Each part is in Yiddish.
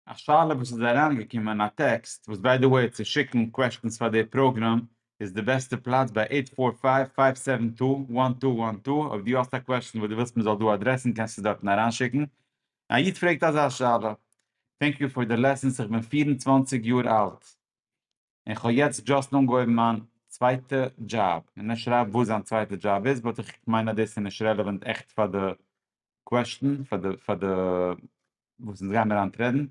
א שאלה וואס איז אריינגעקומען א טעקסט וואס ביי די וועי צו שיקן קוועשטענס פאר די פראגראם איז די בעסטע פלאץ ביי עיט פאר פייוו פייוו סעווען טו וואן טו וואן טו אויב דו האסט א קוועשטען וואס דו ווילסט מען זאל דא אדרעסן קענסטו דארטן אריינשיקן א איד פרעגט אזא שאלה טענק יו פאר די לעסענס איך בין פֿיר און צוואַנציק יאר אלט. און איך האב יעצט דשאסט אנגעהויבן מיין צווייטע דזשאב, און ער שרייבט וואס זיין צווייטע דזשאב איז, באט איך מיין אז דאס איז נישט רעלעווענט עכט פאר די קוועשטען, פאר די פאר די וואס אונז גיימיר היינט רעדן.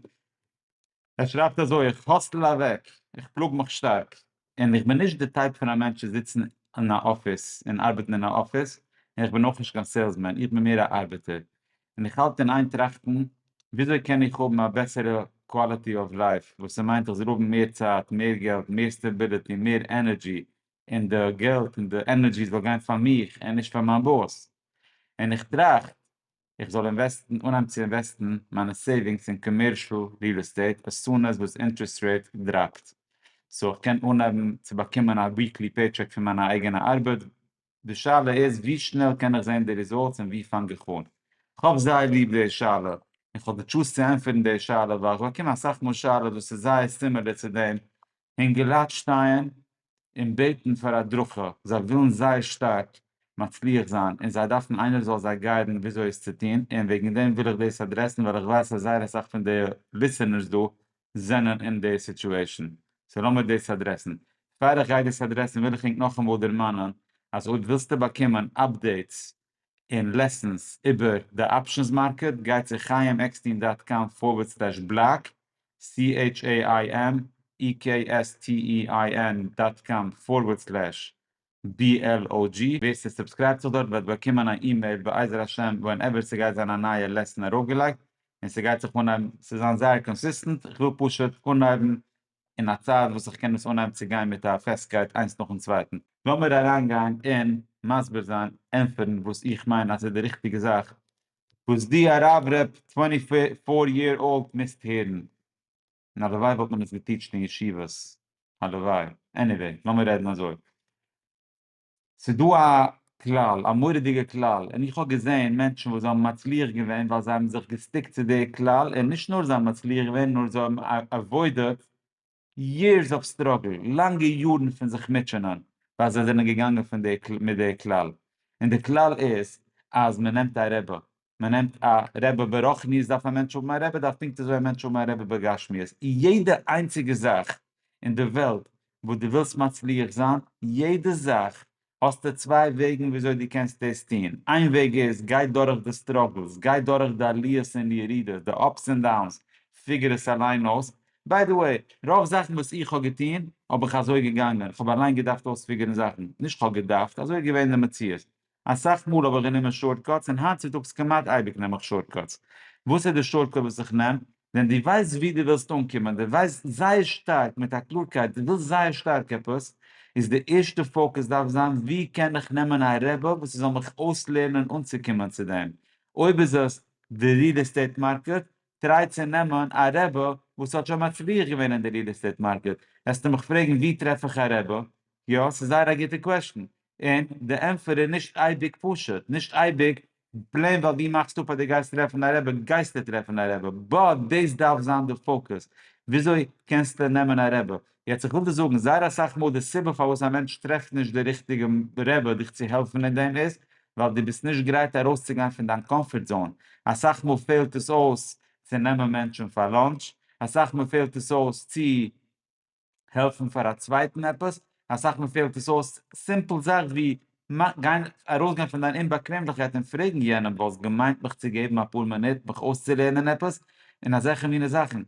ער שרייבט אזוי, איך האסל אוועק, איך פלאג מיך שטארק, און איך בין נישט די טייפ פון א מענטש צו זיצן אין א אפיס און ארבעטן אין א אפיס, און איך בין אויך נישט קיין סעילסמען, איך בין מער א ארבעטער, און איך האלט אין איין טראכטן וויאזוי קען איך האבן א בעסערע קוואליטי אוו לייף, וואס ס'מיינט איך זאל האבן מער צייט, מער געלט, מער סטעביליטי, מער ענערדזשי, און די געלט און די ענערדזשי זאל גיין פאר מיך און נישט פאר מיין באס, און איך טראכט איך זאל אינוועסטן, אנהייבן צו אינוועסטן מיינע סעיווינגס אין קאמערשל ריעל עסטעיט as soon as וואס אינטערעסט רעיט דראפט, סאו איך קען אנהייבן צו באקומען א וויקלי פעי טשעק פון מיין אייגענע ארבעט, די שאלה איז ווי שנעל קען איך זען די ריזאלטס און ווי פאנג איך אן? כ'האב זייער ליב די שאלה און כ'האב די טשולס צו ענטפערן די שאלה ווייל איך באקום אסאך מאל שאלות וואס איז זייער סימילער צו דעם און געלייט שטייען און בעטן פאר הדרכה זיי ווילן זייער שטארק מצליח זיין און זיי דארפן איינער זאל זיי גיידן וויאזוי עס צו טון און וועגן דעם וויל איך דאס אדרעסן ווייל איך ווייס אז זייער אסאך פון די ליסענערס דא זענען אין די סיטועשן, סאו לאמיר דאס אדרעסן. פאר איך גיי דאס אדרעסן וויל איך ענק נאכאמאל דערמאנען אז אויב ווילסטו באקומען אפדעיטס און לעסענס איבער די אפשענס מארקעט גיי צו חיים עקסטין דאט קאם פארווערד סלעש בלאק, סי-עיטש-עי-איי-עם-אי-קעי-עס-טי-אי-איי-ען דאט קאם פארווערד סלעש BLOG, ווער ס'סובסקרייבט זיך דארט וועט באקומען א אימעיל בעזר השם ווענעווער ס'גייט זיין א נייע לעסען ארויפגעלייגט, און ס'גייט זיך אנהייבן, ס'וועט זיין זייער קאנסיסטענט, איך וויל פשוט אנהייבן אין א צייט וואס איך קען עס אנהייבן צו גיין מיט א פעסטקייט איינס נאכן צווייטן. לאמיר אריינגיין און מסביר זיין, ענטפערן, וואס איך מיין אז איז די ריכטיגע זאך וואס די הרב ר' טווענטי פאר יער אולד מוזט הערן. און הלוואי וואלט מען עס געטיטשט אין ישיבות, הלוואי, עניוועי, לאמיר רעדן אזוי, ס'דא א כלל, א מורא'דיגע כלל, און איך האב געזען מענטשן וואס זיי האבן מצליח געווען ווייל זיי האבן זיך געסטיקט צו די כלל, און נישט נאר זיי האבן מצליח געווען, נאר זיי האבן עוואוידעד יערס אוו סטראגל, לאנגע יארן פון זיך מוטשענען, ווייל זיי זענען געגאנגען מיט די כלל, און די כלל איז אז מען נעמט א רבי, מען נעמט א רבי ברוחניות דארף א מענטש האבן א רבי דארף פונקט אזוי א מענטש האבן א רבי בגשמיות, אין יעדע איינציגע זאך אין די וועלט וואס דו ווילסט מצליח זיין, יעדע זאך, האסטו צוויי וועגן וויאזוי דו קענסט דאס טון, איין וועג איז גיי דורך די סטראגלס, גיי דורך די עליות און ירידות, די אפס און דאונס, פיגער עס אליין אויס, ביי די וועי, רוב זאכן וואס איך האב געטון האב איך אזוי געגאנגען, איך האב אליין געדארפט אויספיגערן זאכן, נישט כ'האב געדארפט, אזוי איז געווען די מציאות, אסאך מאל האב איך גענומען שארטקאטס און היינט צוטאגס כמעט אייביג נעם איך שארטקאטס. וואס איז די שארטקאט וואס איך נעם? ווען דו ווייסט וואו דו ווילסט אנקומען, דו ווייסט זייער שטארק מיט א קלארקייט דו ווילסט זייער שטארק עפעס, איז די ערשטע פאוקעס דארף זיין וואו קען איך נעמען א רבי וואס ער זאל מיך אויסלערנען אנצוקומען צו דעם. אויב איז עס די ריעל עסטעיט מארקעט, טריי צו נעמען א רבי וואס האט שוין מצליח געווען אין די ריעל עסטעיט מארקעט. וועסטו מיך פרעגן וואו טרעף איך א רבי? יא, ס'איז זייער א גוטע קוועשטן. און די ענטפער איז נישט אייביג פשוט, נישט אייביג פלעין ווייל דו מאכסט אפ אז דו גייסט טרעפן א רבי גייסטו טרעפן א רבי, באט דאס דארף זיין די פאקוס, וויאזוי קענסטו נעמען א רבי? יעצט איך וויל דיר זאגן, זייער אסאך מאל די סיבה פארוואס א מענטש טרעפט נישט די ריכטיגע רבי דיך צו העלפן אין דעם איז, ווייל דו ביסט נישט גרייט ארויסצוגיין פון דיין קאמפארט זאון, אסאך מאל פעלט עס אויס צו נעמען מענטשן פאר לאנטש, אסאך מאל פעלט עס אויס צו העלפן פאר א צווייטן עפעס, אסאך מאל פעלט עס אויס סימפל זאך ווי גיין ארויסגיין פון דיין אומבאקוועמליכקייט און פרעגן יענעם וואלסט געמיינט מיך צו געבן אפאר מינוט מיך אויסצולערנען עפעס? און אזעלכע מינע זאכן,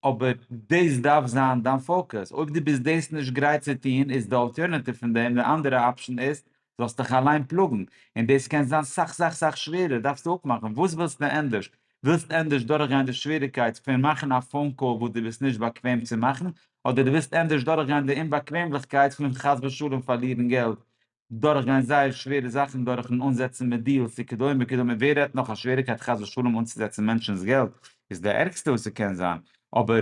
אבער דאס דארף זיין דיין פאוקעס, אויב דו ביסט דאס נישט גרייט צו טון איז די אלטערנאטיוו פון דעם די אנדערע אפשן איז זאלסט דיך אליין פלאגן, און דאס קען זיין סאך סאך סאך שווערער, דארפסטו אפמאכן וואס ווילסטו ענדערש, ווילסט ענדערש דורכגיין די שוועריגקייט פון מאכן א פאון קאל וואס דו ביסט נישט באקוועם צו מאכן, אדער דו ווילסט ענדערש דורכגיין די אומבאקוועמליכקייט פון חס ושלום פארלירן געלט, דורכגיין זייער שווערע זאכן דורכ'ן אנזעצן מיט דיעלס וכדומה וכדומה, ווער רעדט נאך א שוועריגקייט חס ושלום אנצוזעצן מענטשנ'ס געלט, איז די ערגסטע וואס ס'קען זיין, אבער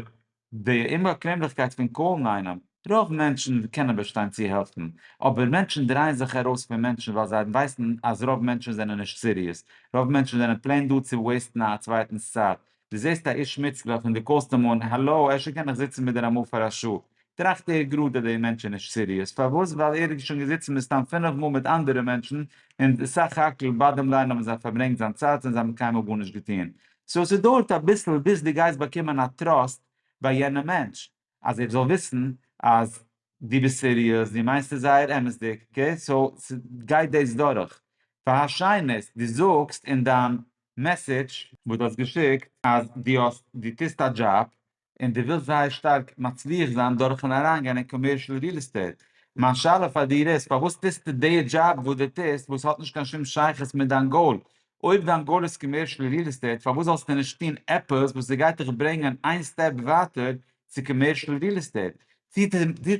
די אומבאקוועמליכקייט פון קאלן איינעם, רוב מענטשן קענען באשטיין צו העלפן, אבער מענטשן דרייען זיך ארויס פון מענטשן ווייל זיי ווייסן אז רוב מענטשן זענען נישט סיריעס, רוב מענטשן זענען פלעין דא צו וועיסטן א צווייטנס צייט, דו זעסט א איש מצוה און דו קאלסט אים אן, האלא, אפשר קען איך זיצן מיט דיר אמאל פאר א שעה? טראכט ער גראד אז דער מענטש איז נישט סיריעס, פארוואס? ווייל ער איז שוין געזיצן מסתם פינף מאל מיט אנדערע מענטשן און סך הכל באדעם ליין האבן זיי פארברענגט זיין צייט און זיי האבן קיינמאל גארנישט געטון, סאו ס'דויערט אביסל ביז דו גייסט באקומען א טראסט ביי יענע מענטש אז ער זאל וויסן אז דו ביסט סיריעס, דו מיינסט עס זייער אמת'דיג, אקעי? סאו ס'גייט דאס דורך. פאר השנית, דו זאגסט אין דיין מעסעדזש. וואס דו האסט געשיקט אז דו האסט דו טוסט א דזשאב און דו ווילסט זייער שטארק מצליח זיין דורכן אריינגיין אין קאמערשעל ריעל עסטעיט, מיין שאלה פאר דיר איז פארוואס טוסטו די דזשאב וואס דו טוסט וואס האט נישט קיין שום שייכות מיט דיין גאול? אויב דיין גאול איז קאמערשעל ריעל עסטעיט פארוואס זאלסטו נישט טון עפעס וואס ס'גייט דיך ברענגען איין סטעפ ווייטער צו קאמערשעל ריעל עסטעיט?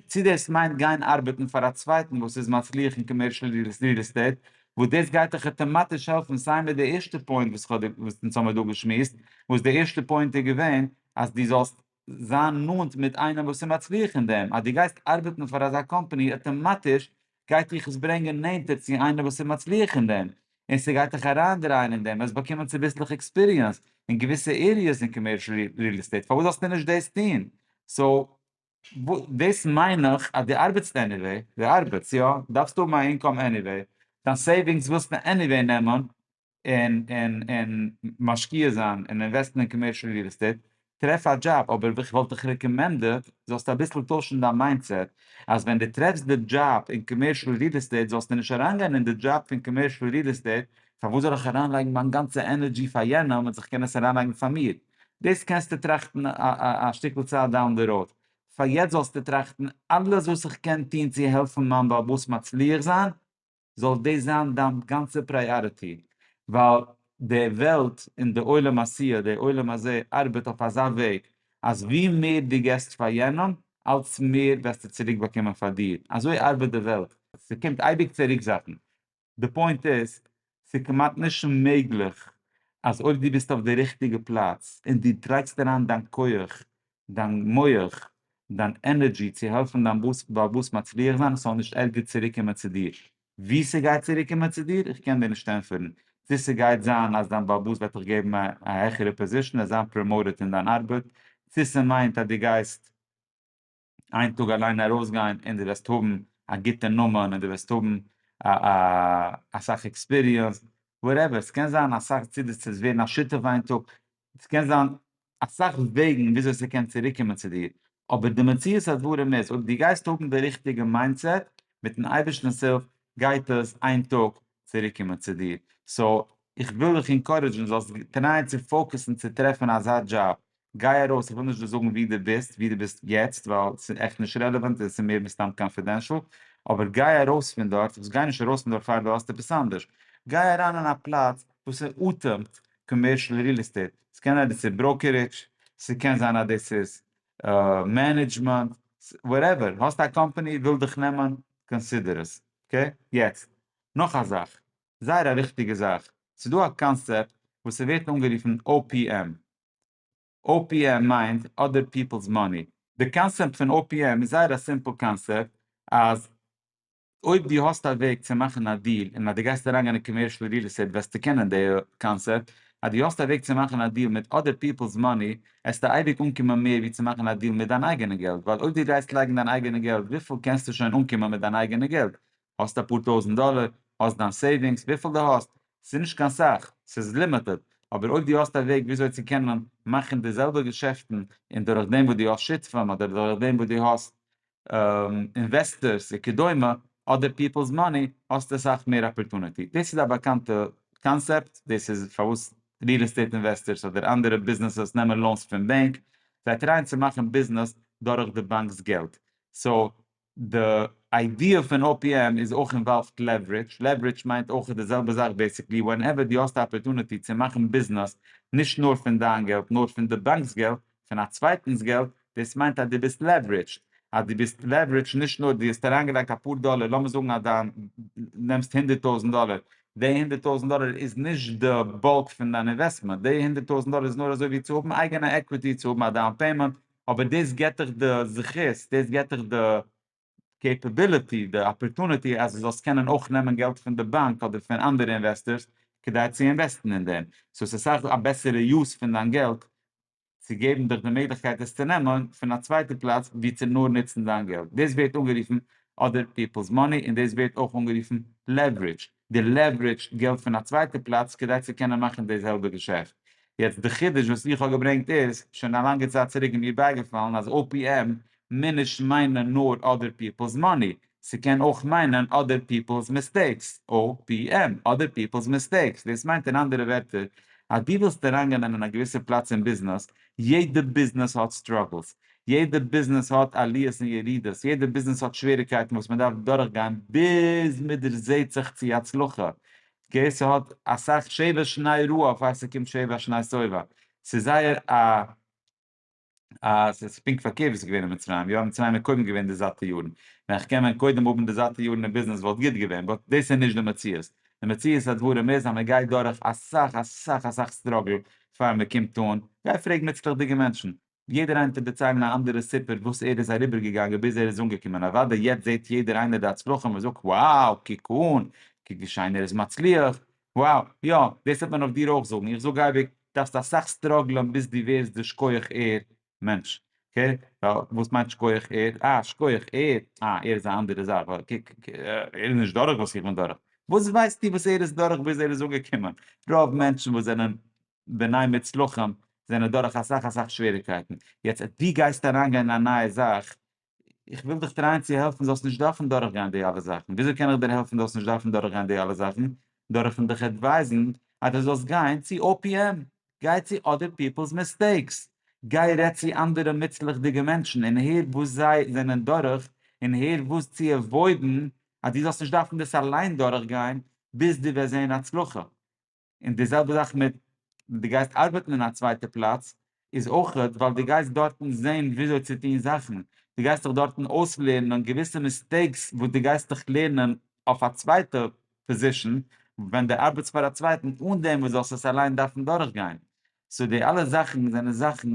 צו דאס מיינט גיין ארבעטן פאר א צווייטן וואס איז מצליח אין קאמערשעל ריעל עסטעיט, וואס דאס גייט דיך אוטאמאטיש העלפן סיי מיט די ערשטע פוינט וואס כ'האב דיר וואס אונז האמיר דא געשמועסט, וואס די ערשטע פוינט איז געווען אז דו זאלסט זיין נאנט מיט איינעם וואס איז מצליח אין דעם, אז דו גייסט ארבעטן פאר אזא קאמפאני אוטאמאטיש גייט דיך עס ברענגען נענטער צו איינער וואס איז מצליח אין דעם, און ס'גייט דיך אריינדרייען אין דעם, וועסט באקומען צוביסלעך עקספיריענס אין געוויסע עריעס אין קאמערשל ריעל עסטעיט, פארוואס זאלסטו נישט דאס טון? סאו, דאס מיין איך אז דו ארבעטסט עניוועי, דו ארבעטסט, יא, דארפסט האבן א אינקאם עניוועי, דיין סעיווינגס ווילסטו עניוועי נעמען, און און און משקיע זיין און אינוועסטן אין קאמערשעל ריעל עסטעיט, טרעף א דזשאב, אבער וואס כ'וואלט דיך רעקאמענדעט זאלסטו אביסל טוישן דיין מיינדסעט, אז ווען דו טרעפסט די דזשאב אין קאמערשעל ריעל עסטעיט זאלסטו נישט אריינגיין אין די דזשאב פון קאמערשעל ריעל עסטעיט, פארוואס זאל איך אריינלייגן מיין גאנצע ענערדזשי פאר יענעם ווען איך קען עס אריינלייגן פאר מיר? דאס קענסטו טראכטן א שטיקל צייט דאון די ראוד, פאר יעצט זאלסטו טראכטן אלעס וואס איך קען טון צו העלפן מיין בעל הבית מצליח זיין, זאל דאס זיין דיין גאנצע פריאריטי, ווייל די וועלט און די עולם העשיה, די עולם הזה, ארבעט אויף אזא וועג אז ווי מער דו געסט פאר יענעם, אלץ מער וועסטו צוריק באקומען פאר דיר, אזוי ארבעט די וועלט. ס'קומט אייביג צו ריקזאכן. די פוינט איז, ס'כמעט נישט מעגליך אז אויב דו ביסט אויף די ריכטיגע פלאץ און דו לייגסט אריין דיין כח דיין מח, דיין ענערדזשי צו העלפן דיין בעל בתּ מצליח זיין עס זאל נישט ערגער צוריק קומען צו דיר. ווי ס'גייט צוריק קומען צו דיר, איך קען דיר נישט ענטפערן. צו ס'גייט זיין אז דיין בעל בתּ וועט דיך געבן א העכערע פּאזישאן, עס זיין פּראמאוטעד אין דיין ארבעט, צו ס'מיינט אז דו גייסט איין טאג אליין ארויסגיין און דו וועסט האבן א גוטע נאמען און דו וועסט האבן אסאך עקספיריענס, וואטעווער, ס'קען זיין אסאך צדיקות ווערן א שותף איין טאג, ס'קען זיין אסאך וועגן וויאזוי ס'קען צוריקקומען צו דיר, אבער די מציאות הדברים איז אויב דו גייסט האבן די ריכטיגע מיינדסעט, מיטן אייבערשטנ'ס הילף גייט עס איין טאג צוריקקומען צו דיר, סאו איך וויל דיך אינקארעדזשן זאלסט טרייען צו פאוקעסן צו טרעפן אזא דזשאב, גיי ארויס, איך וויל נישט דא זאגן ווי דו ביסט, ווי דו ביסט יעצט, ווייל ס'איז עכט נישט רעלעוואנט און ס'איז מער מסתם קאנפידענשאל, אבער גיי ארויס פון דארט, וואס גיי נישט ארויס פון דארט פאר דו האסט עפעס אנדערש, גיי אריין אין א פלאץ וואס ס'אטעמט, קאמערשל ריעל עסטעיט, ס'קען אז דאס איז בראוקערידזש, ס'קען זיין אז דאס איז מענעדזשמענט, וואטעווער, האסט א קאמפאני וויל דיך נעמען, קאנסידער עס, אקעי? יעצט, נאך א זאך, זייער א וויכטיגע זאך, ס'איז דא א קאנצעפט וואס ס'ווערט אנגערופן OPM, OPM מיינט אדער פיפלס מאני. די קאנצעפט פון OPM איז זייער א סימפל קאנצעפט, אז אויב דו האסט א וועג צו מאכן א דיעל און אז דו גייסט אריינגיין אין קאמערשל ריעל עסטעיט וועסטו קענען די קאנסעפט, אז דו האסט א וועג צו מאכן א דיעל מיט אדער פיפלס מאני עסטו אייביג אנקומען מער ווי צו מאכן א דיעל מיט דיין אייגענע געלט, ווייל אויב דו גייסט לייגן דיין אייגענע געלט וויפיל קענסטו שוין אנקומען מיט דיין אייגענע געלט? האסט אפאר טויזנט דאלער, האסט דיין סעיווינגס, וויפיל דו האסט, ס'איז נישט קיין סאך, ס'איז לימיטעד, אבער אויב דו האסט א וועג וויאזוי צו קענען מאכן די זעלבע געשעפטן און דורכדעם וואס דו האסט שותפים אדער דורכדעם וואס דו האסט אינוועסטערס וכדומה אדער פיפלס מאני האסטו אסאך מער אפערטונעטי, דאס איז א באקאנטע קאנסעפט, דאס איז פארוואס ריעל עסטעיט אינוועסטערס אדער אנדערע ביזנעסעס נעמען לאונס פון בענק, זיי טרייען צו מאכן ביזנעס דורך די באנק'ס געלט, סאו די איידיע פון OPM איז אויך אינוואלווד לעווערידזש, לעווערידזש מיינט אויך די זעלבע זאך בעסיקלי, ווענעווער דו האסט א אפערטונעטי צו מאכן ביזנעס נישט נאר פון דיין געלט נאר פון די באנק'ס געלט פון א צווייטנס געלט, דאס מיינט אז דו ביסט לעווערידזשד, אז דו ביסט לעווערידזשד נישט נאר דו האסט אריינגעלייגט אפאר דאלער, לאמיר זאגן אז דיין נעמסט הונדערט טויזנט דאלער, די הונדערט טויזנט דאלער איז נישט די באלק פון דיין אינוועסטמענט, די הונדערט טויזנט דאלער איז נאר אזוי ווי צו האבן אייגענע עקוויטי, צו האבן א דאון פעימענט, אבער דאס געט דיך די זכות, דאס געט דיך די קעפעביליטי, די אפערטוניטי אז דו זאלסט קענען אויך נעמען געלט פון די באנק אדער פון אנדערע אינוועסטארס כדי צו אינוועסטן אין דעם, סאו עס איז אסאך א בעסערע יוז פון דיין געלט צו געבן דיך די מעגליכקייט עס צו נעמען פון א צווייטע פלאץ ווי צו נאר נוצן דיין געלט, דאס ווערט אנגערופן אדער פיפלס מאני און דאס ווערט אויך אנגערופן לעווערידזש, די לעווערידזשד געלט פון א צווייטע פלאץ כדי צו קענען מאכן די זעלבע געשעפט. יעצט די חידוש וואס איך האב געברענגט איז שוין א לאנגע צייט צוריק איז מיר בייגעפאלן אז OPM מוז נישט מיינען נאר אדער פיפלס מאני, ס'קען אויך מיינען אדער פיפלס מיסטעיקס, OPM, אדער פיפלס מיסטעיקס, דאס מיינט אין אנדערע ווערטער אז דו ווילסט אריינגיין אין א געוויסע פלאץ אין ביזנעס יעדע ביזנעס האט סטראגלס, יעדע ביזנעס האט עליות און ירידות, יעדע ביזנעס האט שוועריקייטן וואס מען דארף דורכגיין ביז מען דערזעהט זיך צו הצלחה, אקעי ס'האט אסאך שבע שני רעה אויף אז ס'קומט שבע שני סובב, ס'איז זייער א א ס'איז פונקט פארקערט ווי ס'איז געווען אין מצרים, יא מצרים איז קודם געווען די זאטע יארן, ווען כ'קען ווען קודם האבן די זאטע יארן אין ביזנעס וואלט גוט געווען, באט דאס איז נישט די מציאות, די מציאות הדברים איז אז מען גייט דורך אסאך אסאך אסאך סטראגל פאר מען קומט אן, גיי פרעג מוצלח'דיגע מענטשן, יעדער איינער טוט דערציילן א אנדערע סיפור וואס ער איז אריבערגעגאנגען ביז ער איז אנגעקומען, אוודאי יעצט זעט יעדער איינער די הצלחה און זאגט wow קוק אן, קוק ווי שיין ער איז מצליח, wow, יא, דאס וועט מען אויף דיר אויך זאגן, איך זאג אייביג, דארפסט אסאך סטראגלען ביז דו ווערסט דאס כח ער, מענטש, אקעי, ווייל וואס מיינט שכוח ער, אה שכוח ער, אה ער איז א אנדערע זאך, ווייל קוק, ער איז נישט דורך וואס איך בין דורך, וואס ווייסטו וואס ער איז דורך ביז ער איז אנגעקומען, רוב מענטשן וואס זענען בני מוצלחים זענען דורך אסאך אסאך שוועריקייטן, יעצט אז דו גייסט אריינגיין אין א נייע זאך, איך וויל דיך טרייען צו העלפן זאלסט נישט דארפן דורכגיין די אלע זאכן, וויאזוי קען איך דיר העלפן זאלסט נישט דארפן דורכגיין די אלע זאכן? דורכן דיך עדווייזן אז דו זאלסט גיין צו OPM, גיי צו אדער פיפלס מיסטעיקס, גיי רעד צו אנדערע מוצלח'דיגע מענטשן און הער וואס זיי זענען דורך און הער וואס צו עוואוידן אז דו זאלסט נישט דארפן דאס אליין דורכגיין ביז דו וועסט זען הצלחה, און די זעלבע זאך מיט די גייסט ארבעטן אין א צווייטע פלאץ איז אויך ווייל די גייסט דארטן זען וויאזוי צו טון זאכן, די גייסט דיך דארטן אויסלערנען געוויסע מיסטעיקס וואס די גייסט דיך לערנען אויף א צווייטע פאזישן ווען די ארבעטסט פאר א צווייטן אן דעם וואס זאלסט עס אליין דארפן דורכגיין, סאו די אלע זאכן זענען זאכן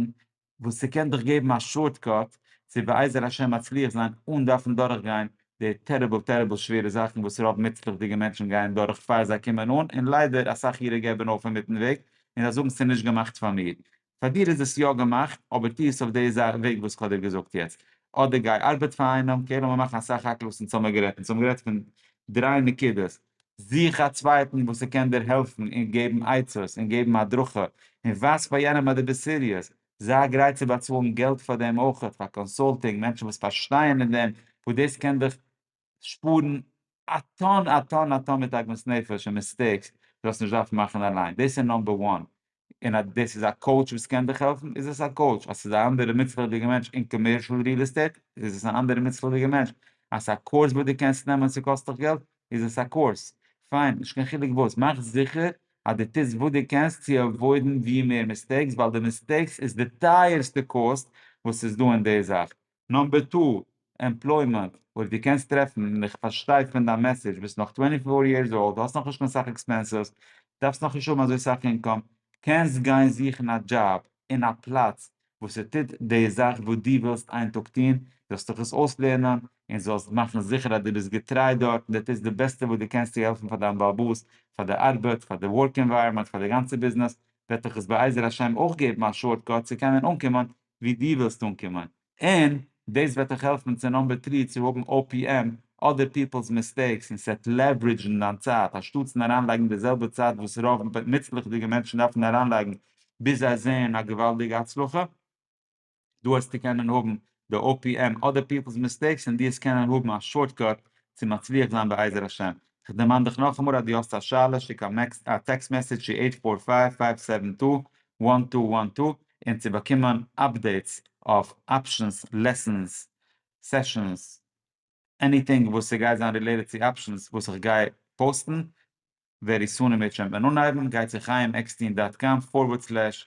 וואס ס'קען דיך געבן א שארט קאט צו בעזר השם מצליח זיין אן דארפן דורך גיין די טעריבל טעריבל שווערע זאכן וואס רוב מוצלח'דיגע מענטשן גייען דורך פאר זיי קומען אן, און ליידער אסאך אירע געבן אויף אינמיטן וועג און זיי זאגן ס'נישט געמאכט פאר מיר. פאר דיר איז עס יא געמאכט, אבער טו עס אויף די וועג וואס כ'האב דיר געזאגט יעצט. אדער גיי ארבעט פאר איינעם, אקעי לאמיר מאכן אסאך הקלות אין צאמגערעדט, אין צאמגערעדט פון דריי נקודות, זוך א צווייטן וואס ער קען דיר העלפן און געבן עצות און געבן הדרכה און ווייז פאר יענעם אז דו ביסט סיריעס, זיי גרייט צו באצאלן געלט פאר דעם אויך, פאר קאנסולטינג, מענטשן וואס פארשטייען אין דעם, וואס דאס קען דיך שפארן א טאן א טאן א טאן מיט עגמת נפש און מיסטעיקס וואס זאלסט נישט דארפן מאכן אליין, דאס איז נאמבער וואן, און אז דאס איז א קאוטש וואס קען דיך העלפן איז עס א קאוטש, אז ס'איז א אנדערע מוצלח'דיגע מענטש אין קאמערשל ריעל עסטעיט איז עס אן אנדערע מוצלח'דיגע מענטש, אז ס'איז א קורס וואס דו קענסט נעמען און ס'קאסט דיך געלט איז עס א קורס, פיין נישט קיין חילוק וואס, מאך זיכער אז דו טוסט וואס דו קענסט צו עוואוידן ווי מער מיסטעיקס ווייל די מיסטעיקס איז די טייערסטע קאסט וואס איז דא אין די זאך, נאמבער טו, עמפלוימענט, אויב דו קענסט טרעפן, און איך פארשטיי פון דיין מעסעדזש, ביסט נאך טווענטי פאר יערס אולד, האסט נאכנישט קיין סאך עקספענסעס, דארפסט נאכנישט האבן אזוי סאך אינקאם, קענסט גיין זוכן א דזשאב אין א פלאץ וואס ס'טוט די זאך וואס דו ווילסט איין טאג טון, זאלסט דיך עס אויסלערנען, און זאלסט מאכן זיכער אז דו ביסט געטריי דארט, און דו טוסט די בעסטע וואס דו קענסט צו העלפן פאר דיין בעל הבית, פאר די ארבעט, פאר די ווארק ענווייראמענט, פאר די גאנצע ביזנעס, וועט דיך עס בעזר השם אויך געבן א שארט קאט צו קענען אנקומען ווי דו ווילסט אנקומען, און דאס וועט דיך העלפן צו נאמבער טרי צו האבן OPM, אדער פיפלס מיסטעיקס, און ס'וועט לעווערידזשן דיין צייט, אנשטאטס אין אריינלייגן די זעלבע צייט וואס רוב נוצליכדיגע מענטשן דארפן אריינלייגן ביז זיי זעען א געוואלדיגע הצלחה, דא העסטו קענען האבן די OPM, אדער פיפלס מיסטעיקס, און דו העסט קענען האבן א שארטקאט צו מצליח זיין בעזר השם. כ'דערמאן דיך נאכאמאל אז דו האסט א שאלה שיק א טעקסט מעסעדזש צו עיט פאר פייוו פייוו סעווען טו וואן טו וואן טו און צו באקומען אפדעיטס אויף אפשענס, לעסענס, סעשענס, עניטינג וואס ס'גייט זיין רילעיטעד צו אפשענס וואס איך גיי פאוסטן ווערי סון און מיר טשעמפען אנהייבן גיי צו חיים עקסטין דאט קאם פארווערד סלעש